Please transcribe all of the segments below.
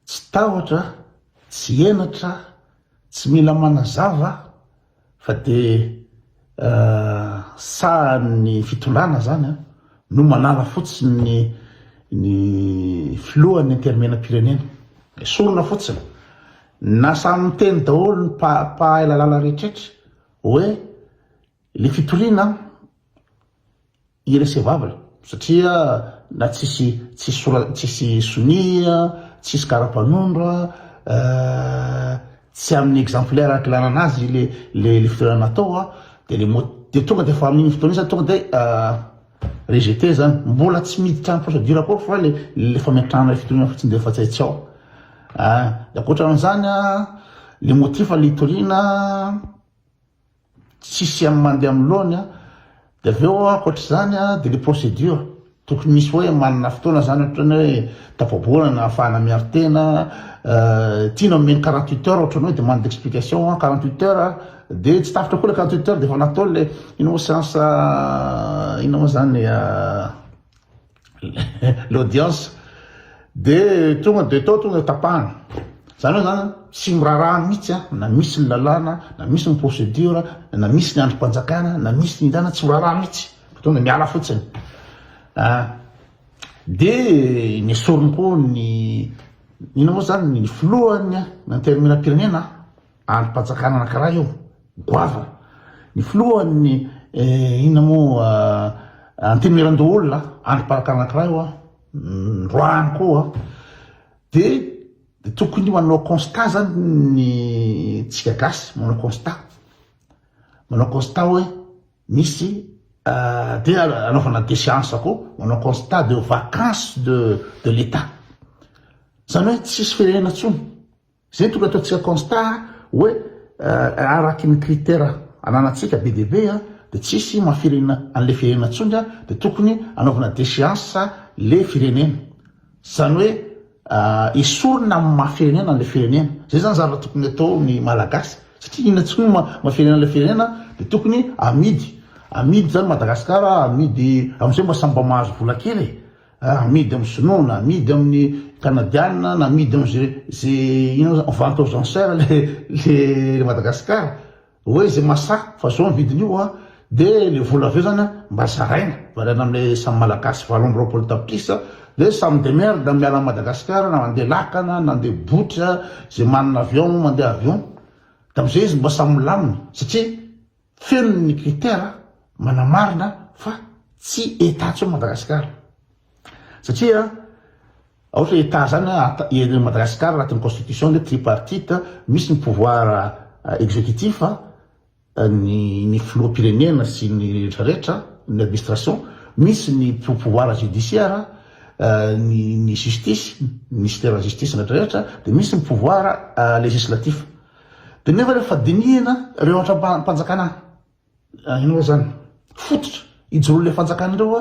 Tsy tahotra, tsy henatra, tsy mila manazava fa dia sahan'ny fitondrana zany an, no manala fotsiny ny filohan'ny intermenam-pirenena, esorina fotsiny, na samy miteny daholo ny mpahay lalàna rehetrretra hoe le fitoriana an, irrecevable satria na tsisy tsisy sora tsisy sonia tsisy karapanondro tsy amin'ny exemplaire akilanana azy le le le fitoerana natao a de le mot de tonga de fa amin'iny fotoana iny zany tonga de rejeter zany mbola tsy miditra am procedure akao fa le le fametrahana le fitoriana fotsiny de efa tsy hay tsy ao a de ankoatran'izany a le motif le hitoriana Tsisy am mandeha am laony a. De avy eo ankoatr'izany a de le procédure, tokony misy hoe manana fotoana zany ohatrany hoe tafabolana ahafahana miaro tena, tiana omena quarante huit heures ohatrany hoe demande d'explication a, quarante huit heures a, de tsy tapitra koa le quarante huit heures de efa natao le inona moa seance inona moa zany le. l'audience de tonga de tao tonga tapahana zany hoe zany tsy miraraha mihitsy a na misy ny lalàna na misy ny procédure na misy ny androm-panjakana na misy ny indana tsy miraraha mihitsy tonga miala fotsiny de nesoriny koa ny ina moa zany ny filohany intermena-pirenena Andrim-panjakana anankiray io, goavana. Ny filohan'ny inona moa, Antenimierandoholona, andrim-panjakana anankiray io, androany koa. Dia tokony manao constat zany ny tsika gasy, manao constat, manao constat hoe misy dia anaovana déchéance koa, manao constat de vacance de l'Etat. Zany hoe tsisy firenena intsony, Zay tonga ataontsika constat hoe arakin'ny critère ananantsika be dia be dia tsisy maha firenena an'le firenena tsony dia tokony anaovana déchéance le firenena. Zany hoe esorina amin'ny maha firenena an'le firenena. Zay zany zavatra tokony atao ny malagasy satria inona tsony no maha firenena an'le firenena dia tokony amidy amidy zany Madagascar amidy amzay mba samy mba mahazo vola kely e. Amidy amin'ny sinoa na amidy amin'ny kanadianina na amidy amin'izay izay inona moa zany vente aux enchères le le Madagasikara hoe izay mahasahy fa zao ny vidin'io a de le vola avy eo zany a mba zaraina variana amle samy malagasy valo amby roapolo tapitrisa de samy demerde miala an'i Madagasikara na mandeha lakana na andeha botry a izay manana avion mandeha avion de am'zay izy mba samy milamina satria Feno ny critère manamarina fa tsy Etat intsony Madagascar satria aohatra Etat zany a Madagascar anatin'ny constitution le tripartite misy ny pouvoir executif ny ny filoham-pirenena sy ny rehetra rehetra ny administration misy ny pouvoir judiciaire ny ny justice ministère justice rehetra rehetra de misy ny pouvoir legislatif Dia nefa rehefa dinihina ireo antram-panjakana inona zany fototra ijoroan'ilay fanjakana ireo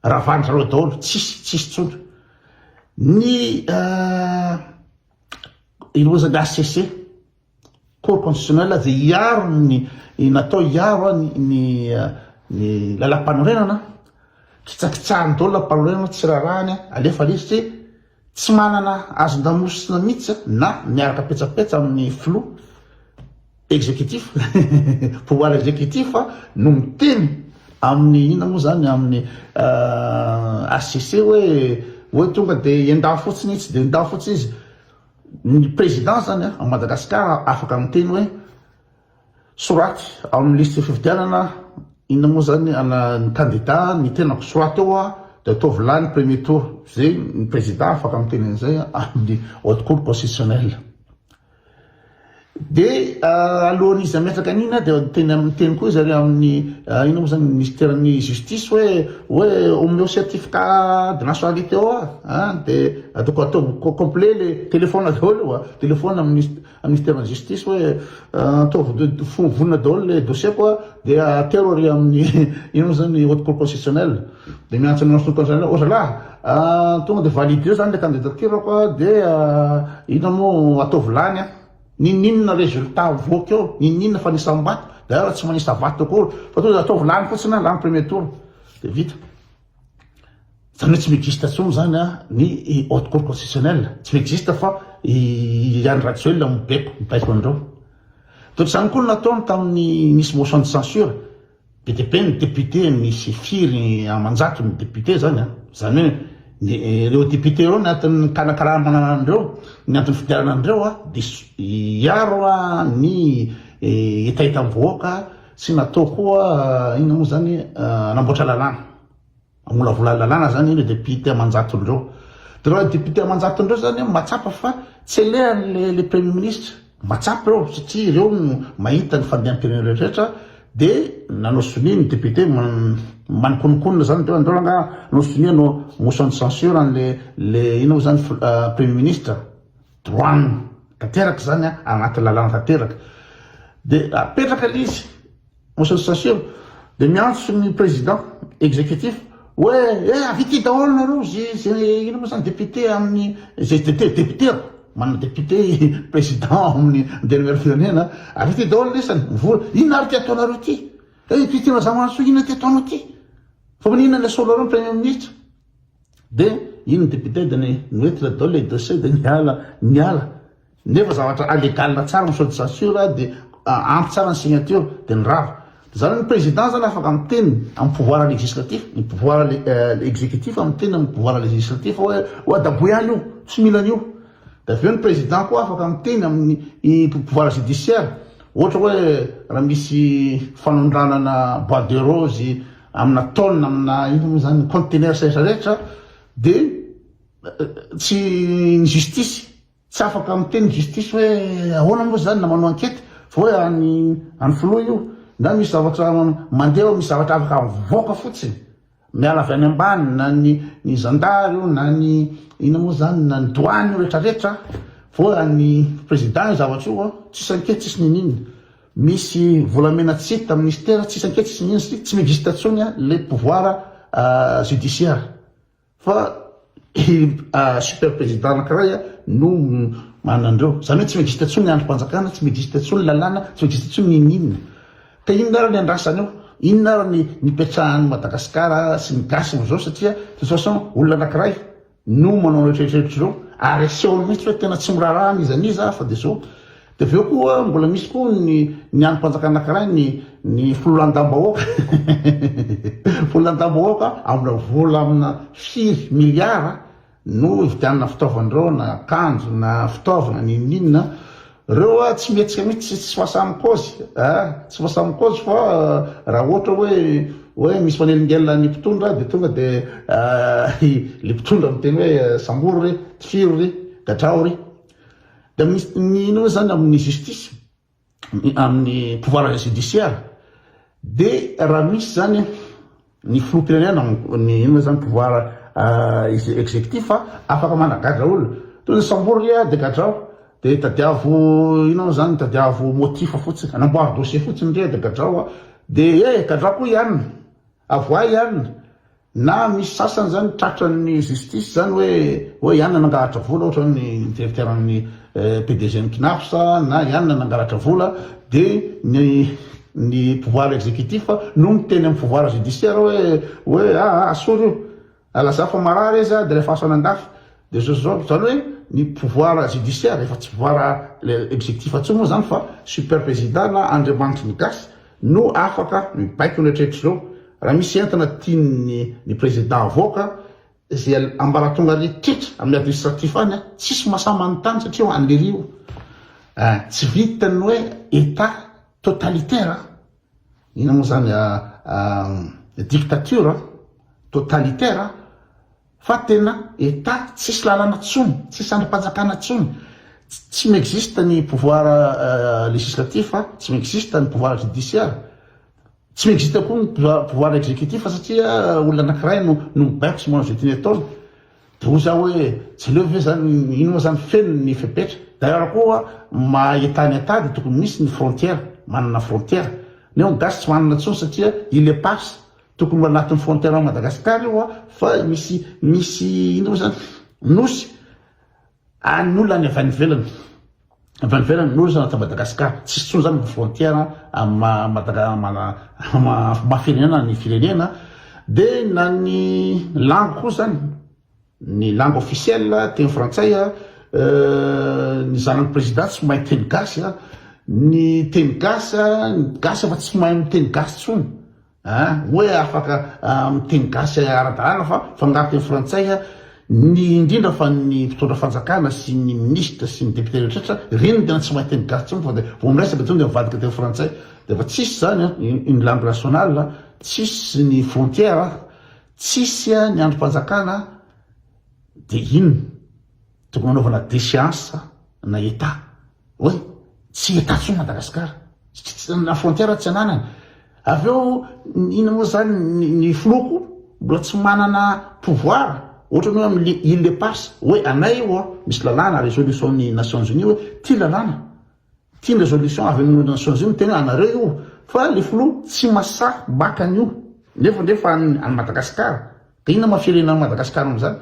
a ravandra ireo daholo tsisy tsisy tsony ny inona zany HCC cour constitutionnelle dia hiaro ny natao hiaro ny ny lalam-panorenana kitsakitsahan'ny daholo lalam-panorenana tsy rarahany alefa lesy Tsy manana hazon-damosina mihitsy na miaraka petsapetsa amin'ny filoha, executif, pouvoir executif, no miteny amin'ny inona moa izany, amin'ny HCC hoe hoe tonga dia endao fotsiny itsy dia endao fotsiny izy. Ny président izany ao Madagasikara afaka miteny hoe. Soraty ao amin'ny lisitry fifidianana inona moa izany ana ny kandida ny tenako soraty ao a dia ataovy lany premier tour izay ny prezida afaka miteny an'izay amin'ny haute cour constitutionnelle dia alohan'izy hametraka an'ina dia teny amin'ny teny koa izy ary amin'ny inona moa izany ministeran'ny justice hoe hoe omeo certificat de nationalité ao a dia ataoko atao complet le telefona daholo io a telefona amin'ny Ministère ny justice hoe ataovy vonona daholo le dossier ko de atero ary amin'ny ino moa zany haute cour constitutionnelle de miantso an'i Masonoro Constitutionnelle oh zalahy tonga de valider zany le candidature ko de ino moa ataovy lany an ninoninona résultat mivoaka eo ninoninona fa nisam bato d'ailleurs tsy manisa bato akory fa tonga de ataovy lany fotsiny an lany premier tour de vita Zany hoe tsy mi-existe intsony zany ny haute cour constitutionnelle, tsy mi-existe fa i Andry Rajoelina no mibeko, mibaiko an'ireo. Dia ohatr'izany koa no nataony tamin'ny nisy motion de censure, be dia be ny députés nisy firy aman-jato ny députés zany an, zany hoe ireo députés ireo ny antony nikanakarama an'ireo, ny antony nifidianana an'ireo dia hiaro ny hetahetam-bahoaka, Tsy natao koa inona moa zany hanamboatra lalàna, hamolavola lalàna zany ireo députés aman-jatony ireo. Dia ireo députés aman-jatony ireo zany mahatsapa fa tsy alehan'ilay le premier ministre, mahatsapa eo satria ireo no mahita ny fandehan-pirenena rehetra dia nanao sonia ny députés manikonokonona zany dia andao angaha hanao sonia hanao motion de censure an'ilay le inona moa zany premier ministre. Droit-ny tanteraka izany an, anaty lalàna tanteraka. Dia apetraka ilay izy, motion de censure, dia miantso ny président exécutif hoe eh ahavita daholo nareo izay inona moa izany député amin'ny izay député an, manana député président amin'ny antenimieran'ny firenena, ahavita daholo ny isany, mivory, inona ary ity ataonareo ity? Eh ity tena zava-mahasoa inona ity ataonao ity? Fa maninona ilay soloareo ny premier ministre? Dia iny ny député dia ny mety le dol et dossier dia niala niala nefa zavatra allegal tsara ny sode censure dia ampy tsara ny signature dia ny rava dia zany ny président zany afaka miteny amin'ny pouvoir législatif ny pouvoir exécutif miteny amin'ny pouvoir législatif hoe oa daboy any io tsy mila an'io dia avy eo ny président koa afaka miteny amin'ny pouvoir judiciaire ohatra hoe raha misy fanondranana bois de rose amina tonne amina inona moa izany ny conteneurs rehetra rehetra dia tsy ny justice tsy afaka miteny justice hoe ahoana moa izany na manao enquête fa hoe any any filoha io na misy zavatra mandeha misy zavatra afaka mivoaka fotsiny miala avy any ambany na ny ny zandary io na ny inona moa izany na ny douane io rehetra rehetra fa hoe any président io zavatra io tsisy enquête tsisy ninina Misy volamena tsy hita ministera tsisy anketsy minsy tsy mixte tsony le pouvoir judiciaire fa i super president anakiray no manandreo zany hoe tsy mixte tsony ny andrimpanjakana tsy mixte tsony ny lalàna tsy mixte tsony ny inona ka inona ary ny andrasany eo inona ary ny nipetrahan'i Madagasikara sy ny gasy amzao satria de toute façon olona anakiray no manao an'ireo treritreritry ireo ary asehony mihitsy hoe tena tsy miraharaha n'iza n'iza fa dia zao dia avy eo koa mbola misy koa ny ny androm-panjakana anankiray ny ny fololandam-bahoaka fololandam-bahoaka amina vola amina firy miliara no hividianana fitaovana ireo na akanjo na fitaovana n'inon'inona Reo a tsy mihetsika mihitsy tsy fasa mikozy a tsy fasa mikozy fa raha ohatra hoe hoe misy manelingelina ny mpitondra de tonga de a i le mpitondra miteny hoe sambory re tifiro re gadrao re de misy ny ino hoe zany amin'ny justice amin'ny pouvoir judiciaire de raha misy zany ny filoham-pirenena ny inona izany pouvoir executif afaka managadra olona toy ny sambory ry a degadrao dia tadiavo inona moa izany tadiavo motif fotsiny anamboary dossier fotsiny ry a degadrao a dia e gadrao koa ihany avoahy ihany na misy sasany izany tratran'ny justice izany hoe hoe ihany nanangahatra vola ohatran'ny directeur-n'ny PDG ny Cnaps na ihany na nangalatra vola dia ny ny pouvoir exécutif no miteny amin'ny pouvoir judiciaire hoe hoe ah asolo io alazao fa marary izy dia alefaso any andafy dia zao zao izany hoe ny pouvoir judiciaire efa tsy pouvoir exécutif intsony moa izany fa super président na andriamanitry ny gasy no afaka mibaiko ny hatrehatr'izao raha misy entana tian'ny ny président havoaka Izay ambaratonga rehetra amin'ny administratif any an, tsisy mahasahy manontany satria ho an'lery io an, tsy vita ny hoe Etat totalitaire an, inona moa izany an, dictature an, totalitaire an, fa tena Etat tsisy lalana tsony, tsisy andrim-panjakana tsony, tsy mi-existe ny pouvoir legislatif an, tsy mi-existe ny pouvoir judiciaire, Tsy maintsy hita koa ny pouvoir exécutif satria olona anakiray no no mibaiko sy mahazo ety ny ataony. Dia hoy za hoe tsy aleo ve zany ino moa zany feno ny fepetra. D'ailleurs koa maha Etat ny Etat dia tokony misy ny frontière, manana frontière. Neo ny gasy tsy manana intsony satria il eparse. Tokony ho anatin'ny frontière an'i Madagascar io fa misy misy ino moa zany nosy. Any ny olona any avy any ivelany, avy any ivelany no zana ta Madagascar, tsisy tsony zany ny frontière am Madaga am maha firenena ny firenena, de na ny langue koa zany, ny langue officielle teny frantsay a, ny zanany président tsy mahay teny gasy a, ny teny gasy a, ny gasy efa tsy mahay miteny gasy tsony. An! Hoe afaka miteny gasy ara-dalàna fa fangaro teny frantsay ny indrindra fa ny mpitondra fanjakana sy ny minisitra sy ny député rehetrretra, ireny no tena tsy mahay teny gasy tsony fa dia vao miresaka intsony dia mivadika teny frantsay dia efa tsisy izany an! Une langue nationale tsisy ny frontière tsisy ny andrim-panjakana dia inona tokony hanaovana déchéance na état. Oy, tsy hita intsony Madagascar, na frontière tsy ananany. Avy eo inona moa zany ny filoako mbola tsy manana pouvoir ohatrany hoe amin'ny île éparse hoe anay io a, misy lalàna résolution ny nations unies hoe ty lalàna, ty ny résolution avy amin'ny nations unies miteny hoe anareo io, fa le filoha tsy masahy maka an'io, nefa ndray fa an'i Madagascar, de inona ma firenan'i Madagascar amin'izany?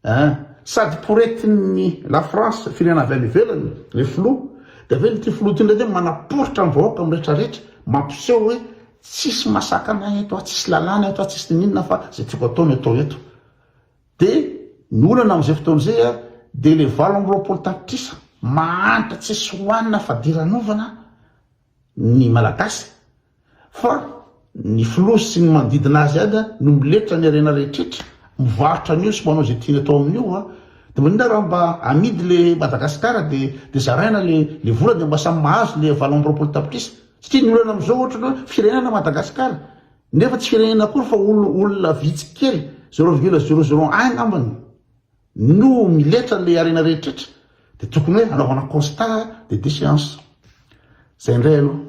Eeh, sady poretin'ny la France, firenena avy any ivelany, le filoha, dia ve ity filoha ity indray ve manaporitra ny vahoaka amin'ny rehetra rehetra, mampiseho hoe tsisy masakana eto a, tsisy lalàna eto a, tsisy ninininona fa izay tiako atao no atao eto. Dia ny olana amin'izay fotoana izay a, dia le valo amby roapolo tapitrisa mahantra tsisy hohanina fadiranovana ny Malagasy, Fa ny filoha sy ny manodidina azy ihany no miletra ny harena rehetrretra mivarotra an'io sy manao izay tiany atao amin'io a! de maninona raha mba amidy le Madagascar de de zaraina le le vola de mba samy mahazo le valo amby roapolo tapitrisa satria ny olana amizao ohatry ny hoe firenena Madagascar nefa tsy firenena akory fa olona olona vitsy kely zero virgule zero zero un ngambany no miletra le harena rehetretra de tokony hoe anaovana constat de déchéance zay ndray aloha.